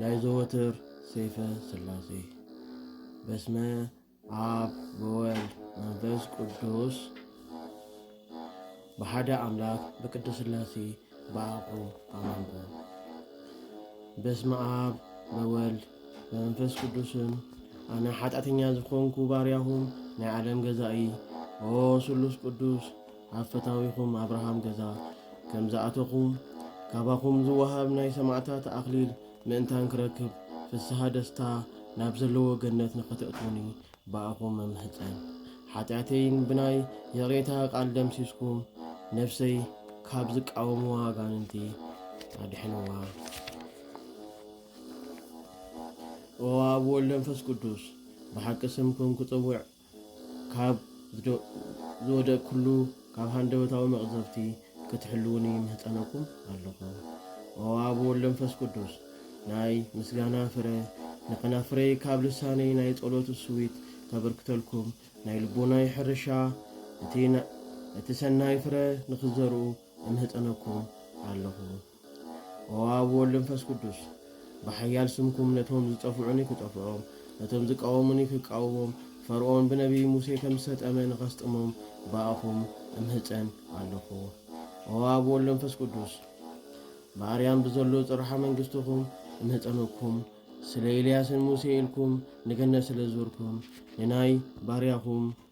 ናይ ዘወትር ሰይፈ ስላሴ በስመ ኣብ ወወልድ መንፈስ ቅዱስ ብሓደ ኣምላክ ብቅድስት ስላሴ ብኣቁ ኣማንኩ። በስመ ኣብ በወልድ በመንፈስ ቅዱስን ኣነ ሓጢኣተኛ ዝኾንኩ ባርያኹም ናይ ዓለም ገዛኢ ኦ ስሉስ ቅዱስ ኣብ ፈታዊኹም ኣብርሃም ገዛ ከም ዝኣተኹ፣ ካባኹም ዝወሃብ ናይ ሰማእታት ኣኽሊል ምእንታን ክረክብ፣ ፍስሃ ደስታ ናብ ዘለዎ ገነት ንኸተእትዉኒ ብኣኹም እምሕጸን። ሓጢኣተይን ብናይ ይቕሬታ ቃል ደምሲስኩም፣ ነፍሰይ ካብ ዝቃወምዋ ኣጋንንቲ ኣድሕንዋ። ኦ ኣብ ወልድ መንፈስ ቅዱስ ብሓቂ ስምኩም ክጽውዕ ካብ ዝወደቅኩሉ ካብ ሃንደበታዊ መቕዘፍቲ ክትሕልዉኒ ይምህጸነኩም ኣለኹ። ኦ ኣብ ወልድ መንፈስ ቅዱስ ናይ ምስጋና ፍረ ንከናፍረይ ካብ ልሳነይ ናይ ጸሎት እሱዊት ከበርክተልኩም ናይ ልቦናይ ሕርሻ እቲ እቲ ሰናይ ፍረ ንክትዘርኡ እምህጸነኩም ኣለኹ። ኦ ኣብ ወወልድ መንፈስ ቅዱስ ብሓያል ስምኩም ነቶም ዝጠፍዑኒ ክጠፍዖም ነቶም ዝቃወሙኒ ክቃወሞም ፈርኦን ብነብይ ሙሴ ከም ዝሰጠመ ንኸስጥሞም ብኣኹም እምህጸን ኣለኹ ኦ ኣብ ወወልድ መንፈስ ቅዱስ ብኣርያም ብዘሎ ጽርሓ መንግስትኹም እምህጸነኩም ስለ ኤልያስን ሙሴ ኢልኩም ንገነት ስለ ዝዞርኩም ንናይ ባርያኹም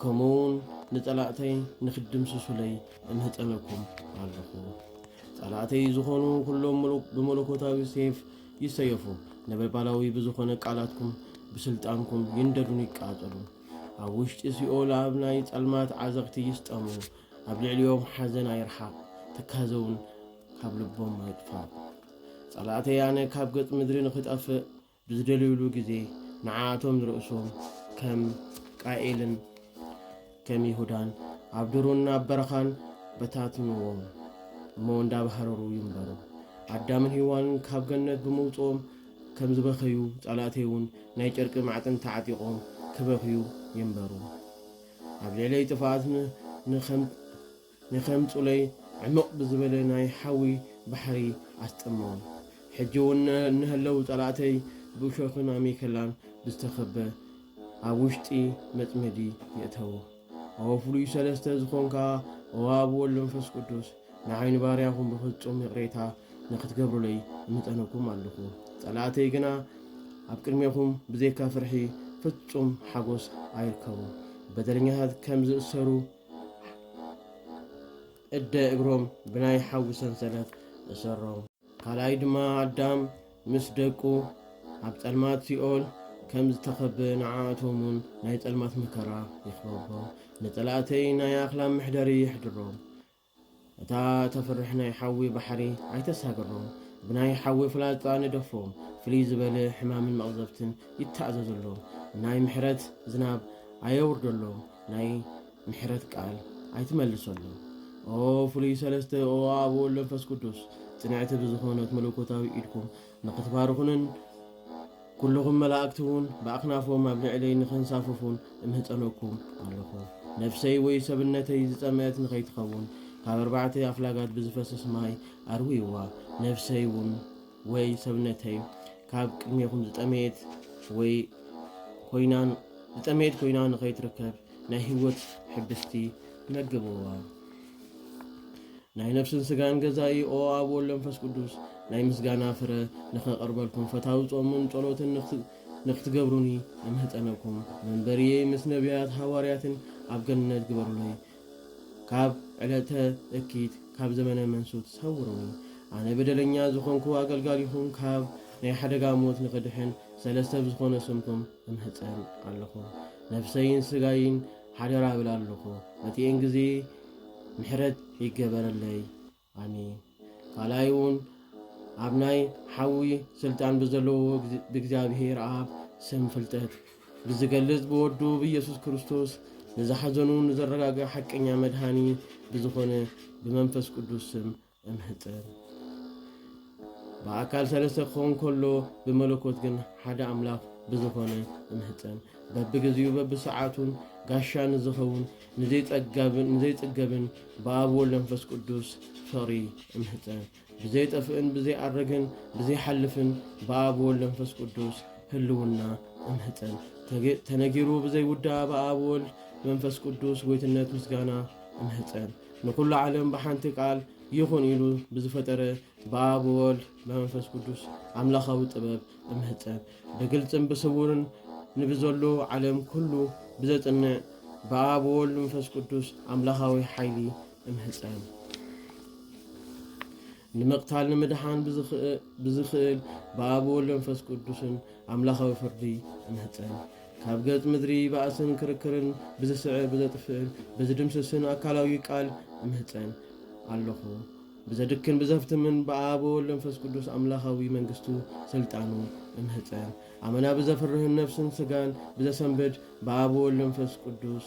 ከምኡውን ንጸላእተይ ንክትድምስሱለይ እምህጸነኩም ኣሎኹ። ጸላእተይ ዝኾኑ ኩሎም ምሉእ ብመለኮታዊ ሴፍ ይሰየፉ፣ ነበልባላዊ ብዝኾነ ቃላትኩም ብስልጣንኩም ይንደዱን ይቃጸሉ፣ ኣብ ውሽጢ ሲኦል ኣብ ናይ ጸልማት ዓዘቕቲ ይስጠሙ፣ ኣብ ልዕሊኦም ሓዘን ኣይርሓቕ፣ ትካዘውን ካብ ልቦም ኣይጥፋእ። ጸላእተይ ኣነ ካብ ገጽ ምድሪ ንክጠፍእ ብዝደልዩሉ ግዜ ንዓኣቶም ንርእሶም ከም ቃኤልን ከም ይሁዳን ኣብ ዱሩን ኣብ በረኻን በታትንዎም እሞ እንዳባህረሩ ይንበሩ። ኣዳምን ሂዋንን ካብ ገነት ብምውጽኦም ከም ዝበኸዩ ጸላእተይ ውን ናይ ጨርቂ ማዕጥን ተዓጢቆም ክበኽዩ ይንበሩ። ኣብ ልዕለይ ጥፍኣት ን ን ከም ንኼምጹለይ ዕምቕ ብዝበለ ናይ ሓዊ ባሕሪ ኣስጠሞም። ሕጂ እውን እንሀለው ጸላእተይ ብእሾኽን ኣሜከላን ብዝተኸበ ኣብ ውሽጢ መጽመዲ የእተዎ። ኦ ፍሉይ ሰለስተ ዝኾንካ ኦ ኣብ ወልድ መንፈስ ቅዱስ ንዓይ ንባርያኹም ብፍጹም ይቕሬታ ንኽትገብሩለይ እምጸነኩም ኣሎኹ። ጸላእተይ ግና ኣብ ቅድሜኹም ብዘይካ ፍርሒ ፍጹም ሓጎስ ኣይርከቡ። በደለኛታት ከም ዝእሰሩ እደ እግሮም ብናይ ሓዊ ሰንሰለት እሰሮም። ካልኣይ ድማ ኣዳም ምስ ደቁ ኣብ ጸልማት ሲኦል ከም ዝተኸበ ንዓኣቶም ውን ናይ ጸልማት መከራ ይኽበቦም፣ ንጸላእተይ ናይ ኣኽላብ መሕደሪ የሕድሮም። እታ ተፍርሕ ናይ ሓዊ ባሕሪ ኣይተሳግሮ፣ ብናይ ሓዊ ፍላጻ ንደፎ፣ ፍልይ ዝበለ ሕማምን መቕዘፍትን ይተኣዘዘሎ፣ ናይ ምሕረት ዝናብ ኣየውርደሎ፣ ናይ ምሕረት ቃል ኣይትመልሰሉ። ኦ ፍሉይ ሰለስተ ኦ ኣብ ወወልድ መንፈስ ቅዱስ ጽንዕቲ ብዝኾነት መለኮታዊ ኢድኩም ንኽትባርኹንን ኩሉኹም መላእክቲ እውን ብኣኽናፎም ኣብ ልዕለይ ንኸንሳፍፉን እምህጸነኩም ኣሎኹ። ነፍሰይ ወይ ሰብነተይ ዝጸምእት ንኸይትኸውን ካብ ኣርባዕተ ኣፍላጋት ብዝፈስስ ማይ ኣርውይዋ። ነፍሰይ እውን ወይ ሰብነተይ ካብ ቅድሜኹም ዝጠመየት ወይ ኮይና ዝጠመየት ኮይና ንኸይትርከብ ናይ ህይወት ሕብስቲ መግብዋ። ናይ ነፍስን ስጋን ገዛኢ ኦ ኣብ ወልድ መንፈስ ቅዱስ ናይ ምስጋና ፍረ ንኸቕርበልኩም ፈታዊ ጾሙን ጸሎትን ንክትገብሩኒ እምህጸነኩም መንበርየይ ምስ ነቢያት ሃዋርያትን ኣብ ገነት ግበሩለይ ካብ ዕለተ እኪት ካብ ዘመነ መንሱት ሰውሩኒ ኣነ በደለኛ ዝኾንኩ ኣገልጋሊኹም ካብ ናይ ሓደጋ ሞት ንኽድሕን ሰለስተ ብዝኾነ ስምኩም እምህጸን ኣለኹ ነፍሰይን ስጋይን ሓደራ እብል ኣለኹ መጺኤን ግዜ ምሕረት ይገበረለይ ኣሜን ካልኣይ እውን ኣብ ናይ ሓዊ ስልጣን ብዘለዎ ብእግዚኣብሔር ኣብ ስም ፍልጠት ብዝገልጽ ብወዱ ብኢየሱስ ክርስቶስ ንዝሓዘኑ ንዘረጋግእ ሓቀኛ መድሃኒ ብዝኾነ ብመንፈስ ቅዱስ ስም እንህጥር ብኣካል ሰለስተ ክኸውን ከሎ ብመለኮት ግን ሓደ ኣምላኽ ብዝኾነ እንህጠን በብግዜኡ በብሰዓቱን ጋሻ ንዝኸውን ንዘይጽገብን ብኣብ ወልድ መንፈስ ቅዱስ ፍቕሪ እንህጠ ብዘይጠፍእን ብዘይኣረግን ብዘይሓልፍን ብኣብ ወልድ መንፈስ ቅዱስ ህልውና እንህጠን ተነጊሩ ብዘይውዳ ብኣብ ወልድ መንፈስ ቅዱስ ጎይትነት ምስጋና እንህጠን ንኹሉ ዓለም ብሓንቲ ቃል ይኹን ኢሉ ብዝፈጠረ ብኣብ ወወልድ በመንፈስ ቅዱስ ኣምላኻዊ ጥበብ እምህጸን ብግልጽን ብስውርን ንብዘሎ ዓለም ኩሉ ብዘጽንዕ ብኣብ ወወልድ መንፈስ ቅዱስ ኣምላኻዊ ሓይሊ እምህጸን ንምቕታል ንምድሓን ብዝኽእል ብኣብ ወልድ መንፈስ ቅዱስን ኣምላኻዊ ፍርዲ እምህጸን። ካብ ገጽ ምድሪ ባእስን ክርክርን ብዝስዕር ብዘጥፍእን ብዝድምስስን ኣካላዊ ቃል እምህጸን ኣለኹ። ብዘድክን ብዘፍትምን ብኣብ ወልድ መንፈስ ቅዱስ ኣምላኻዊ መንግስቱ ስልጣኑ እምህጸን። ኣመና ብዘፍርህን ነፍስን ስጋን ብዘሰንብድ ብኣብ ወልድ መንፈስ ቅዱስ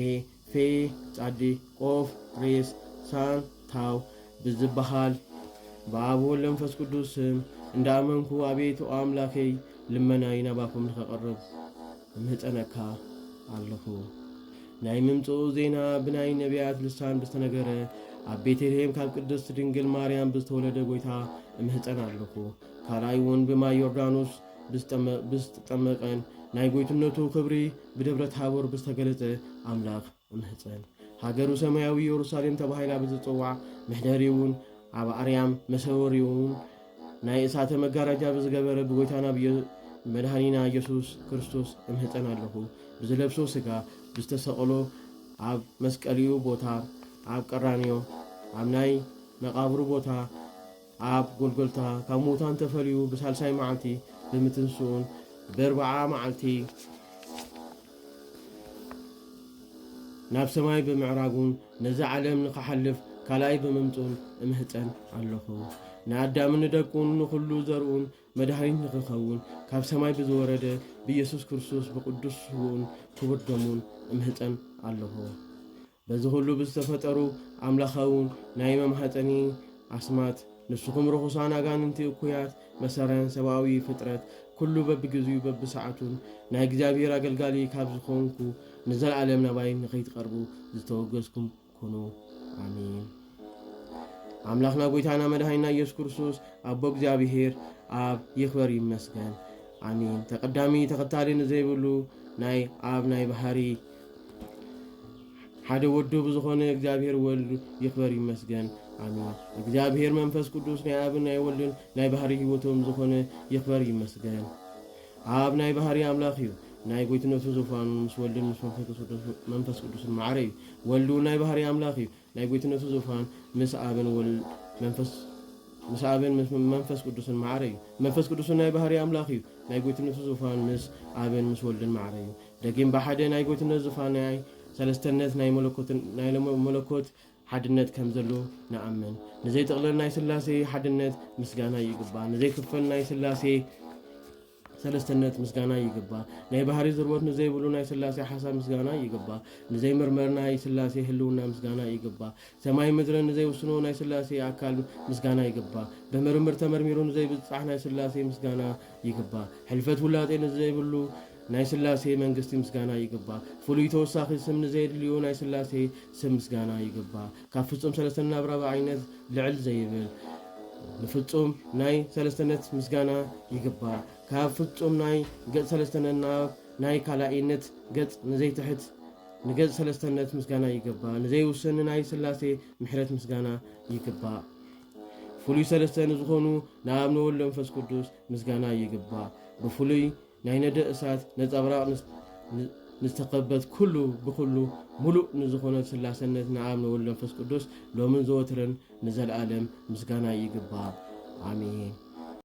ኤህ ፌህ ጻዲ ቆፍ ሬስ ሳን ታው ብዝበሃል ብኣብ ወወልድ ወመንፈስ ቅዱስ ስም እንዳኣመንኩ ኣቤቱ ኣምላከይ ልመናይ ናባኩም ንከቅርብ እምህጸነካ ኣለኩ ናይ ምምጽኡ ዜና ብናይ ነብያት ልሳን ብዝተነገረ ኣብ ቤተልሔም ካብ ቅድስት ድንግል ማርያም ብዝተወለደ ጎይታ እምህጸን ኣለኩ ካልኣይ እውን ብማይ ዮርዳኖስ ብዝተጠመቐን ናይ ጎይትነቱ ክብሪ ብደብረ ታቦር ብዝተገለጸ ኣምላኽ እምህጸን። ሃገሩ ሰማያዊ ኢየሩሳሌም ተባሂላ ብዝጽዋዕ ምሕደሪውን ኣብ ኣርያም መሰወሪውን ናይ እሳተ መጋረጃ ብዝገበረ ብጎይታና መድኃኒና ኢየሱስ ክርስቶስ እምህፀን ኣለኹ ብዝለብሶ ስጋ ብዝተሰቕሎ ኣብ መስቀልኡ ቦታ ኣብ ቀራንዮ ኣብ ናይ መቓብሩ ቦታ ኣብ ጎልጎልታ ካብ ምዉታን ተፈልዩ ብሳልሳይ መዓልቲ ብምትንስኡን ብእርብዓ መዓልቲ ናብ ሰማይ ብምዕራጉን ነዚ ዓለም ንክሓልፍ ካልኣይ ብምምጹን እምሕጸን ኣለኹ። ንኣዳምን ንደቁን ንኹሉ ዘርኡን መድሃኒት ንክኸውን ካብ ሰማይ ብዝወረደ ብኢየሱስ ክርስቶስ ብቅዱስ ስውኡን ክቡር ደሙን እምሕጸን ኣለኹ። በዚ ኹሉ ብዝተፈጠሩ ኣምላኻዊ ናይ መማህጠኒ ኣስማት ንሱኹም ርኹሳን ኣጋንንቲ እኩያት መሰረን ሰብኣዊ ፍጥረት ኩሉ በብግዚኡ በብሰዓቱን ናይ እግዚኣብሔር ኣገልጋሊ ካብ ዝኾንኩ ንዘለዓለም ናባይ ንኸይትቐርቡ ዝተወገዝኩም ኩኑ ኣሜን። ኣምላኽና ጎይታና መድሃኒና ኢየሱስ ክርስቶስ ኣቦ እግዚኣብሔር ኣብ ይኽበር ይመስገን ኣሚን። ተቀዳሚ ተኸታሊ ንዘይብሉ ናይ ኣብ ናይ ባህሪ ሓደ ወዶ ብዝኾነ እግዚኣብሔር ወልድ ይኽበር ይመስገን ኣሚን። እግዚኣብሔር መንፈስ ቅዱስ ናይ ኣብን ናይ ወልድን ናይ ባህሪ ህይወቶም ዝኾነ ይኽበር ይመስገን። ኣብ ናይ ባህሪ ኣምላኽ እዩ ናይ ጎይትነቱ ዙፋኑ ምስ ወልድን ምስ መንፈስ ቅዱስን ማዕረ እዩ። ወልድ ናይ ባህሪ ኣምላኽ እዩ ናይ ጐይትነቱ ዙፋን ምስ ኣብን ወልድ መንፈስ ምስ ኣብን ምስ መንፈስ ቅዱስን ማዕረ እዩ። መንፈስ ቅዱስን ናይ ባህርይ ኣምላኽ እዩ። ናይ ጐይትነቱ ዙፋን ምስ ኣብን ምስ ወልድን ማዕረ እዩ። ደጊም ብሓደ ናይ ጐይትነት ዙፋን ናይ ሰለስተነት ናይ መለኮት ሓድነት ከም ዘሉ ንኣምን። ንዘይጥቕለል ናይ ሥላሴ ሓድነት ምስጋና ይግባ። ንዘይክፈል ናይ ሥላሴ ሰለስተነት ምስጋና ይግባ ናይ ባህሪ ዝርወት ንዘይብሉ ናይ ስላሴ ሓሳብ ምስጋና ይግባ ንዘይ ምርመር ናይ ስላሴ ህልውና ምስጋና ይግባ ሰማይ ምድሪ ንዘይ ውስኑ ናይ ስላሴ ኣካል ምስጋና ይግባ ብምርምር ተመርሚሩ ንዘይ ብጻሕ ናይ ስላሴ ምስጋና ይግባ ሕልፈት ውላጤ ንዘይብሉ ናይ ስላሴ መንግስቲ ምስጋና ይግባ ፍሉይ ተወሳኺ ስም ንዘየድልዩ ናይ ስላሴ ስም ምስጋና ይግባ ካብ ፍጹም ሰለስተነት ናብ ራብዓይነት ልዕል ዘይብል ንፍጹም ናይ ሰለስተነት ምስጋና ይግባእ። ካብ ፍጹም ናይ ገጽ ሰለስተነት ናብ ናይ ካልኣይነት ገጽ ንዘይትሕት ንገጽ ሰለስተነት ምስጋና ይግባእ። ንዘይውሰን ንናይ ስላሴ ምሕረት ምስጋና ይግባእ። ፍሉይ ሰለስተ ንዝኾኑ ንኣብ ንወልድ መንፈስ ቅዱስ ምስጋና ይግባእ። ብፍሉይ ናይ ነደ እሳት ነጸብራቕ ንዝተኸበት ኩሉ ብኹሉ ምሉእ ንዝኾነት ስላሰነት ንኣብ ንወልድ ንመንፈስ ቅዱስ ሎምን ዘወትርን ንዘልኣለም ምስጋና ይግባእ ኣሜን።